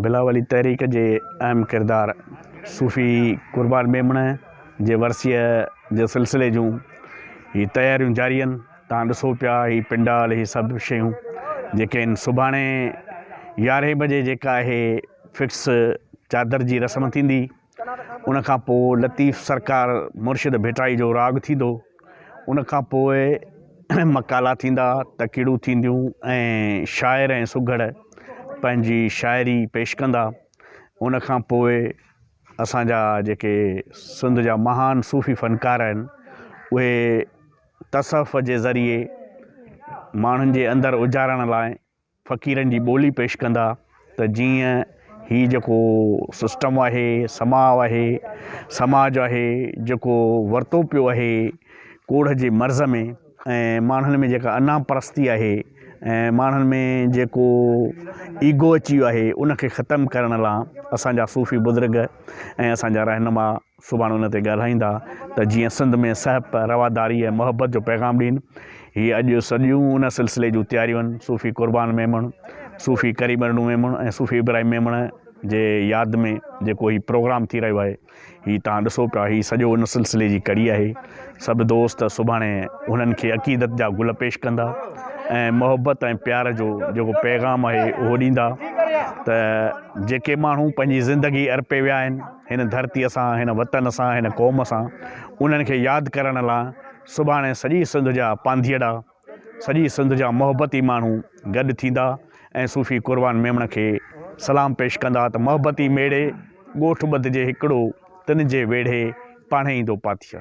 بلاولي تحريڪ جي اهم ڪردار صوفي قربان ميمڻ جي ورسيء جي سلسلي جون هي تياريون جاري آهن توهان ڏسو پيا هي پنڊال هي سڀ شيون جيڪي آهن سڀاڻي يارهين بجي جيڪا اهي فڪس چادر جي رسم ٿيندي ان کان پوء لطيف سرڪار مرشد ڀٽائي جو راڳ ٿيندو. ان کان پوء مقالا ٿيندا، تقريرون ٿينديون ۽ شاعر ۽ سگهڙ پنهنجي شاعري پيش ڪندا. ان کان پوء اسان جا جيڪي سنڌ جا مهان صوفي فنڪار آهن اهي تصوف جي ذريعي ماڻهن جي اندر اجارڻ لاء فقيرن جي ٻولي پيش ڪندا ته جيئن هي جيڪو سسٽم آهي سماء آهي سماج آهي جيڪو ورتو پيو آهي ڪوڙهه جي مرض ۾ ۽ ماڻهن ۾ جيڪا انا پرستي آهي ۽ ماڻهن ۾ جيڪو ايگو اچي ويو آهي ان کي ختم ڪرڻ لا اسان جا صوفي بزرگ ۽ اسان جا رهنما سڀاڻي ان تي ڳالهائيندا ته جيئن سنڌ ۾ سهپ، رواداري ۽ محبت جو پيغام ڏين. هي اڄ سڄيون ان سلسلي جون تياريون صوفي قربان ميمڻ، صوفي ڪريم ارڙون ميمڻ ۽ صوفي ابراهيم ميمڻ جي ياد ۾ جيڪو هي پروگرام ٿي رهيو آهي هي توهان ڏسو پيا هي سڄو ان سلسلي جي ڪڙي آهي. سڀ دوست سڀاڻي هنن کي عقيدت جا گل پيش ڪندا ۽ محبت ۽ پيار جو جيڪو پيغام آهي اهو ڏيندا ته جيڪي ماڻهو پنهنجي زندگي ارپي ويا آهن، هن ڌرتيء سان، هن وطن سان، هن قوم سان، انهن کي ياد ڪرڻ لاء سڀاڻي سڄي سنڌ جا پانڌيئڙا، سڄي سنڌ جا محبتي ماڻهو گڏ ٿيندا ۽ صوفي قربان ميمڻ کي سلام پيش ڪندا ته محبتي ميڙي، ڳوٺ ٻڌجي هڪڙو، تن جي ويڙهي پاڻهي ايندو پاٿيء.